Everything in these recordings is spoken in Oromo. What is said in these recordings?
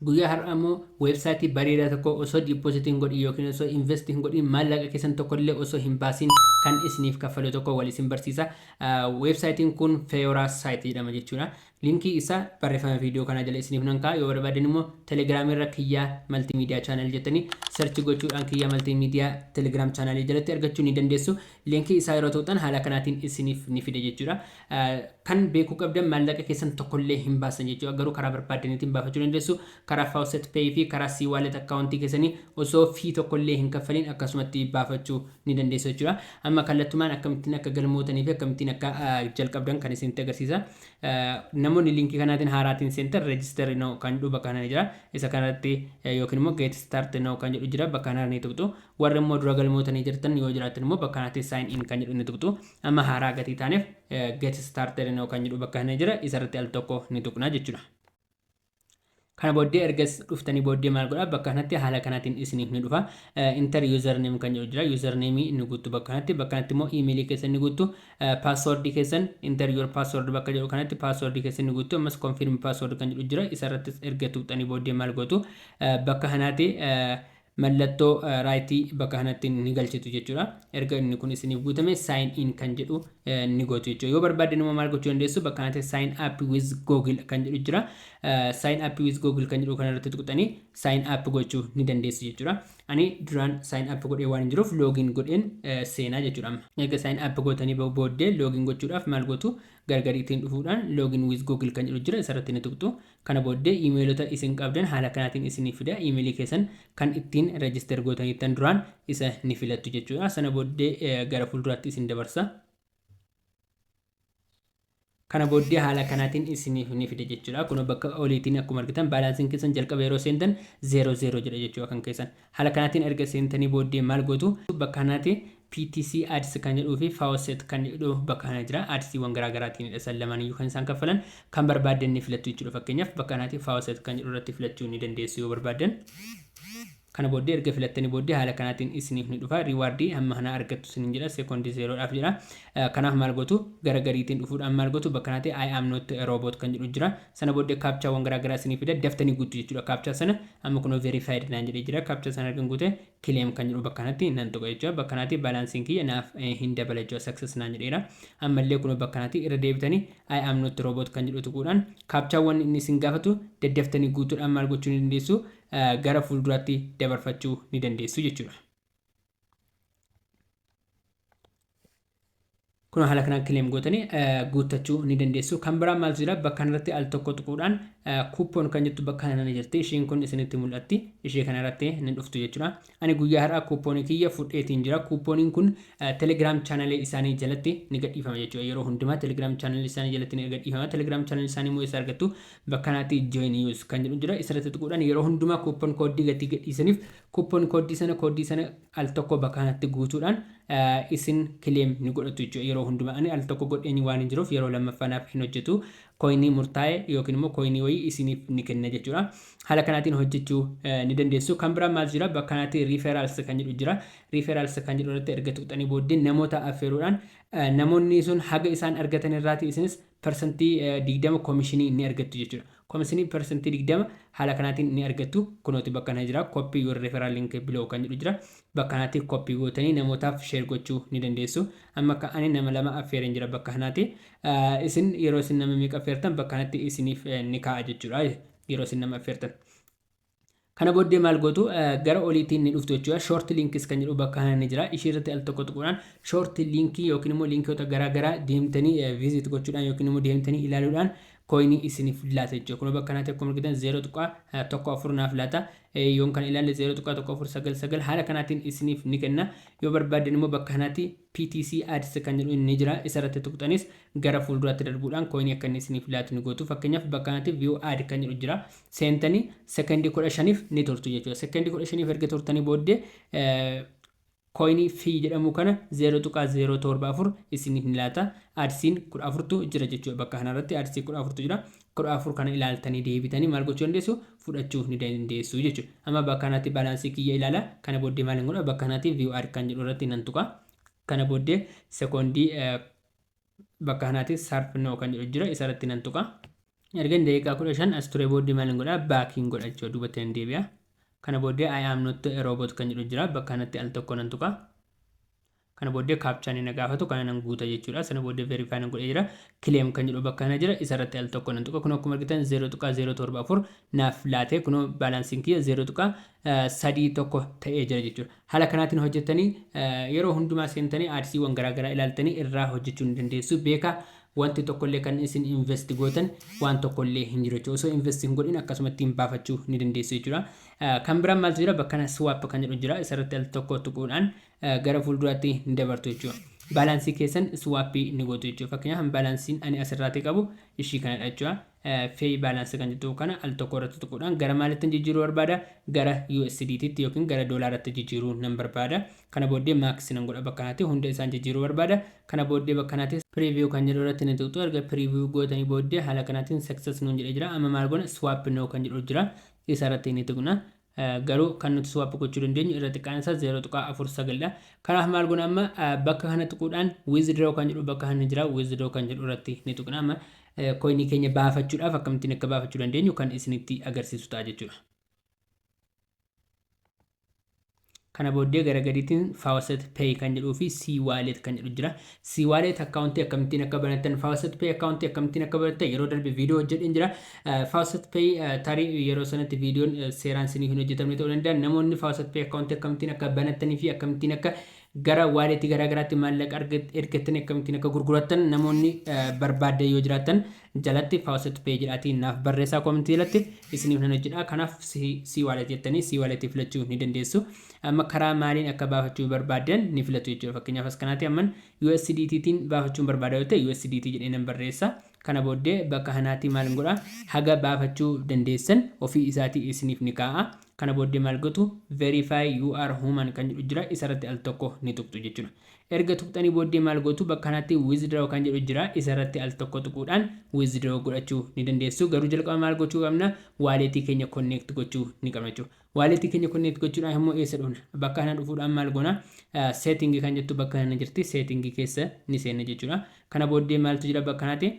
Guyyaa har'aa immoo website bareedaa tokko osoo deposit hin godhin yookiin osoo invest hin godhin maallaqa keessan tokko illee osoo hin baasin kan isiniif kaffalu tokko wal isin barsiisa. Website kun Feora site jedhama jechuudha. Linkii isaa barreeffama viidiyoo kanaa jala isiniif nan kaa'a. Yoo barbaadan immoo Telegram irra kiyyaa multimedia channel jettanii search gochuudhaan kiyyaa multimedia Telegram channel jalatti argachuu ni dandeessu. Linkii isaa yeroo tuqxan haala kanaatiin isiniif ni fida jechuudha. Kan beekuu qabdan maallaqa keessan tokkollee hin baastan jechuudha. Garuu karaa barbaaddaniitiin baafachuu dandeessu. Karaa Faucet Pay fi karaa C-Wallet akkaawuntii keessanii osoo fee tokkollee hin kaffaliin akkasumatti baafachuu ni dandeessu jechuudha. Amma kallattumaan akkamittiin akka galmootanii fi akkamittiin akka jalqabdan kan isinitti agarsiisa. Namoonni liinkii kanaatiin haaraatiin seentan register now kan jedhu bakka kana ni jira. Isa kanarratti yookiin immoo get start now kan jedhu jira bakka kanarra ni tuqxu. Warri immoo dura galmootanii jirtan yoo jiraattan immoo bakka kanatti sign in kan jedhu ni tuqxu. Amma haaraa gatii taaneef get started now kan jedhu bakka kana jira isarratti al tokko ni tuqna jechuudha. Kana booddee erga dhuftanii booddee maal godhaa bakka kanatti haala kanaatiin isiniif ni dhufa. Inter username kan jedhu jira. Username ni guuttu bakka kanatti. Bakka kanatti immoo imeelii keessan ni guuttu. Password keessan inter your password bakka jedhu kanatti password keessan ni guuttu. Ammas confirm password kan jedhu jira. Isarrattis erga tuqxanii booddee maal gootu bakka kanaati Mallattoo right bakka kanatti ni galchitu jechuudha. Erga inni kun isiniif guutame sign in kan jedhu ni gootu jechuudha. Yoo barbaaddan immoo maal gochuu dandeessu? Bakka kanatti sign up with Google kan jedhu jira. Sign up with Google kan jedhu kanarratti tuqxanii sign up gochuu ni dandeessu jechuudha. Ani duraan sign up godhee waan hin jiruuf login godheen seenaa jechuudha amma. Erga sign up gootanii booddee login gochuudhaaf maal gootu? Gargari ittiin dhufuudhaan login with Google kan jedhu jira isarratti ni tuqxu. Kana booddee iimeelota isin qabdan haala kanaatiin isiniif fida. Iimeelii keessan kan ittiin register gootaniittan duraan isa ni filattu jechuudha. Sana booddee gara fuulduraatti isin dabarsa. Kana booddee haala kanaatiin isiniif ni fida jechuudha. Kunoo bakka oliitiin akkuma argitan baalaansiin keessan jalqaba yeroo seentan 00 jedha jechuudha kan keessan. Haala kanaatiin erga seentanii booddee maal gootu? Bakka kanaati PTC ads kan jedhuu fi faucet kan jedhu bakka kana jira. Ads wan garaa garaatiinidha isaan lamaan iyyuu kan isaan kaffalan. Kan barbaaddan ni filattu jechuudha fakkeenyaaf bakka kanaati faucet kan jedhu irratti filachuu ni dandeessu yoo barbaaddan. Kana booddee erga filattanii booddee haala kanaatiin isiniif ni dhufa. Riwaardii hamma kanaa argattu isiniin jedha sekoondii zeeroodhaaf jedha. Kanaaf maal gootu? Gara gariitiin dhufuudhaan maal gootu? Bakka kanaati I am not a robot kan jedhu jira. Sana booddee captcha wan garaa garaa isinii fida daftanii guuttu jechuudha captcha sana amma kunoo verified naan jedhee jira captcha sana ergan guute claim kan jedhu bakka kanatti nan tuqa jechuudha bakka kanatti balansiin kiyya naaf hin dabala jechuudha success naan jedheera ammallee kunoo bakka kanatti irra deebitanii I am not robot kan jedhu tuquudhaan captcha wan inni isin gaafatu daddaftanii guutuudhaan maal gochuu ni dandeessu gara fuulduraatti dabarfachuu ni dandeessu jechuudha. Kunoo haala kanaan claim gootanii guuttachuu ni dandeessu. Kan biraa maaltu jira? Bakka kanarratti al tokko tuquudhaan coupon kan jettu bakka kana ni jirti. Ishiin kun isinitti mul'atti. Ishee kanarratti ni dhuftu jechuudha. Ani guyyaa har'aa coupon kiyya fudheetiin jira. Couponiin kun Telegram channel isaanii jalatti ni gadhiifama jechuudha. Yeroo hundumaa Telegram channel isaanii jalatti ni gadhiifama. Telegram channel isaanii immoo eessa argattu? Bakka kanatti join use kan jedhu jira. Isarratti tuquudhaan yeroo hundumaa coupon code gatii gadhiisaniif coupon code sana code sana al tokko bakka kanatti guutuudhaan isin claim ni godhatu jechuudha yeroo hundumaa ani al tokko godheen waan hin jiruuf yeroo lammaffaa naaf hin hojjetu coinii murtaa'e yookiin immoo coinii wayii isiniif ni kenna jechuudha haala kanaatiin hojjechuu ni dandeessu kan biraa maal jira bakka kanatti referrals kan jedhu jira referrals kan jedhu irratti erga tuqxanii booddee namoota affeeruudhaan namoonni sun haga isaan argatan irraati isinis persantii 20 komishinii ni argattu jechuudha. Komishinii persantii 20 haala kanaatiin ni argattu. Kunooti bakka kana jira. Copy your referral link below kan jedhu jira. Bakka kanaatti copy gootanii namootaaf share gochuu ni dandeessu. Amma akka ani nama lama affeereen jira bakka kanaatti. Isin yeroo isin nama meeqa affeertan bakka kanatti isiniif ni kaa'a jechuudha. Yeroo isin nama affeertan. Kana booddee maal gootu gara oliitiin ni dhuftu jechuudha. Short links kan jedhu bakka kana ni jira. Ishii irratti al tokko tuquudhaan short linkii yookiin immoo linkiyoota garaa garaa deemtanii visit gochuudhaan yookiin immoo deemtanii ilaaluudhaan kooyinii isiniif laata jechuudha. Kunoo bakka kanatti akkuma argitan 0.14 naaf laata. Yoon kan ilaalle 0.1499 haala kanaatiin isiniif ni kenna. Yoo barbaaddan immoo bakka kanatti PTC ads kan jedhu ni jira. Isa irratti tuqxanis gara fuulduraatti darbuudhaan kooyinii akka inni isiniif laatu ni gootu. Fakkeenyaaf bakka kanatti view ad kan jedhu jira. seentanii second 15f ni turtu jechuudha. Second 15f erga turtanii booddee coinii fi jedhamu kana 0.074 isiniif ni laata. Adsiin 14tu jira jechuudha. Bakka kanarratti adsii 14tu jira. 14 kana ilaaltanii deebitanii maal gochuu dandeessu? Fudhachuuf ni dandeessu jechuudha. Amma bakka kanatti baalaansii kiyya ilaala. Kana booddee maal hin godha? Bakka kanatti view ad kan jedhu irratti nan tuqa. Kana booddee sekoondii bakka kanaatis sarf no kan jedhu jira isarratti nan tuqa ergan daqiiqaa kudha shan as ture booddee maal hin godhaa baakiin godha jechuudha duubatti nan deebi'a kana booddee I am not a robot kan jedhu jira bakka kanatti al tokko nan tuqa kana booddee kaapchaan inni gaafatu kana nan guuta jechuudha sana booddee verify nan godhee jira kileem kan jedhu bakka kana jira isarratti al tokko nan tuqa kun akkuma argitan 0.074 naaf laatee kun baalaansiin kiyya 0. 3 1 ta'ee jira jechuudha. Haala kanaatiin hojjettanii yeroo hundumaa seentanii aadsiiwwan garaa garaa ilaaltanii irraa hojjechuu ni dandeessu. Beekaa wanti tokkollee kan isin invest gootan waan tokkollee hin jiru jechuudha. Osoo invest hin godhin akkasumattiin baafachuu ni dandeessu jechuudha. Kan biraan maaltu jira? Bakka kana swap kan jedhu jira. Isarratti al tokko tuquudhaan gara fuulduraatti ni dabartu jechuudha. Baalaansii keessan swap ni gootu jechuudha. Fakkeenyaaf baalaansiin ani asirraatii qabu ishii kanadha jechuudha. Pay balance kan jettu kana al tokko irratti tuquudhaan gara maalittan jijjiiruu barbaada? Gara USDT tti yookiin gara doolaaratti jijjiiruu nan barbaada. Kana booddee max nan godha bakka kanaatti hunda isaan jijjiiruu barbaada. Kana booddee bakka kanaatti preview kan jedhu irratti ni tuqxu. Erga preview gootanii booddee haala kanaatiin success nuun jedhee jira. Amma maal goona? Swap now kan jedhu jira. Isa irratti ni tuqna. garuu kan nuti swap gochuu dandeenyu irra xiqqaan isaa 0.49 dha. Kanaaf maal goona amma bakka kana tuquudhaan withdraw kan jedhu bakka kana jira withdraw kan jedhu irratti ni tuqna amma koinii keenya baafachuudhaaf akkamittiin akka baafachuu dandeenyu kan isinitti agarsiisu ta'a jechuudha. Kana booddee gara gadiitiin faucet pay kan jedhuu fi c wallet kan jedhu jira. C-wallet account akkamittiin akka banattan, Faucet Pay account akkamittiin akka banattan yeroo darbe viidiyoo hojjedheen jira. Eh, Faucet Pay eh, tarii yeroo sanatti viidiyoon eh, seeraan siniif hin hojjetamne ta'uu danda'a. Namoonni Faucet Pay account akkamittiin akka banattanii fi akkamittiin akka gara wallet garaa garaatti maallaqa arga- ergattanii akkamittiin akka gurgurattan namoonni eh, barbaaddan yoo jiraattan jalatti faucet pay jedhaatii naaf barreessaa comment jalatti isiniif nan hojjedha kanaaf si wallet jettanii si wallet filachuu ni dandeessu amma karaa maaliin akka baafachuu barbaaddan ni filatu jechuudha fakkeenyaaf as kanaati amman USDT tiin baafachuun barbaada yoo ta'e USDT jedhee nan barreessa kana booddee bakka kanaatii maal godha haga baafachuu dandeessan ofii isaatii isiniif ni kaa'a kana booddee maal gotu verify you are human kan jedhu jira isarratti al tokko ni tuqxu jechuudha Erga tuqxanii booddee maal gootu bakka kanatti withdraw kan jedhu jira isa irratti al tokko tuquudhaan withdraw godhachuu ni dandeessu garuu jalqaba maal gochuu qabna wallet keenya connect gochuu ni qabna jechuudha wallet keenya connect gochuudhaaf immoo eessa dhufna bakka kana dhufuudhaan maal goona setting kan jettu bakka kana jirti setting keessa ni seenna jechuudha Kana booddee maaltu jira bakka kanati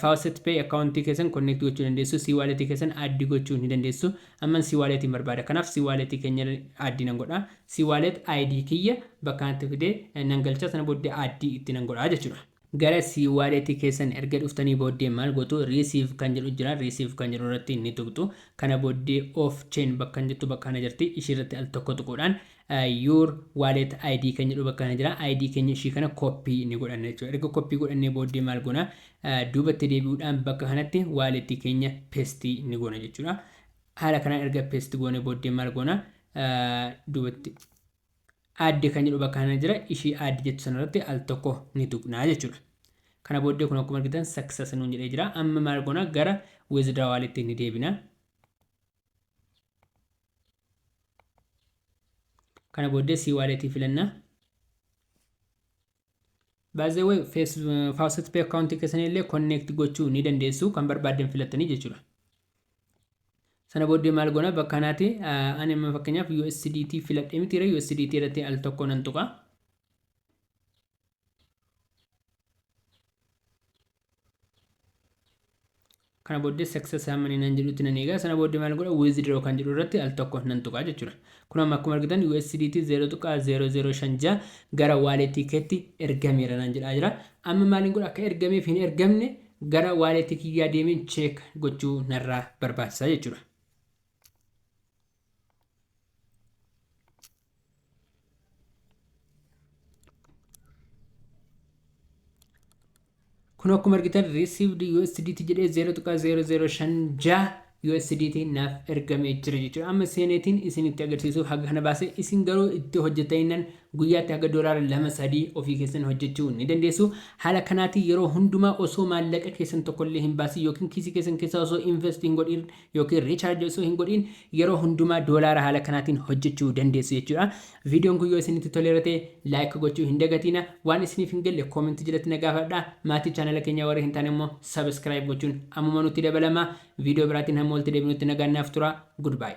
Faucet Pay account keessan connect gochuu dandeessu C-wallet keessan add gochuu ni dandeessu amman C-wallet hin barbaada kanaaf C-wallet keenya add nan godha C-wallet ID kiyya bakka kanatti fide nan galcha sana booddee add itti nan godha jechuudha. Gara C-wallet keessan erga dhuftanii booddee maal gootu receive kan jedhu jira receive kan jedhu irratti ni tuqxu kana booddee off chain bakkan jettu bakka kana jirti ishii irratti al tokko tuquudhaan Your wallet ID kan jedhu bakka kana jira. ID keenya ishii kana copy ni godhanna jechuudha. Erga copy godhannee booddee maal goona? Duubatti deebi'uudhaan bakka kanatti wallet keenya paste ni goona jechuudha. Haala kanaan erga paste goone booddee maal goona? Duubatti add kan jedhu bakka kana jira. Ishii add jettu sanarratti al tokko ni tuqnaa jechuudha. Kana booddee kun akkuma argitan success nuun jedhee jira. Amma maal goona? Gara withdraw wallet ni deebina. kana booddee sii waaleetii filannaa baazewee faawusat pee akkaawuntii keessanii illee konneekti gochuu ni dandeessu kan barbaaddan filattanii jechuudha sana booddee maal goona bakka kanaati ani amma fakkeenyaaf USDT filadhee mitiire USDT irratti al tokko nan tuqa kana booddee success hamma inni nan jedhutti nan eegaa sana booddee maal godha withdraw kan jedhu irratti al tokko nan tuqaa jechuudha kun amma akkuma argitan USDT 0.0056 gara wallet keetti ergameera nan jedhaa jira amma maaliin godha akka ergameef hin ergamne gara wallet kiyyaa deemeen check gochuu narraa barbaachisa jechuudha kun akkuma argitan received USDT jedhee 0.0056 USDT naaf ergamee jira jechuudha. Amma seeneetiin isinitti agarsiisuuf haga kana baase isin garuu itti hojjetaniinan guyyaatti haga doolaara lama sadii ofii keessan hojjechuu ni dandeessu. Haala kanaatiin yeroo hundumaa osoo maallaqa keessan tokkollee hin baasin yookiin kiisii keessan keessaa osoo invest hin godhin ykn recharge osoo hin godhiin yeroo hundumaa doolaara haala kanaatiin hojjechuu dandeessu jechuudha. Viidiyoon kun yoo isinitti toleera ta'e like gochuu hin dagatiina. Waan isiniif hin galle comment jalatti na gaafadhaa. Maatii channel keenyaa warri hin taane immoo subscribe gochuun ammuma nutti dabalamaa. Viidiyoo biraatiin hamma walitti deebinutti nagaan naaf turaa. Goodbye.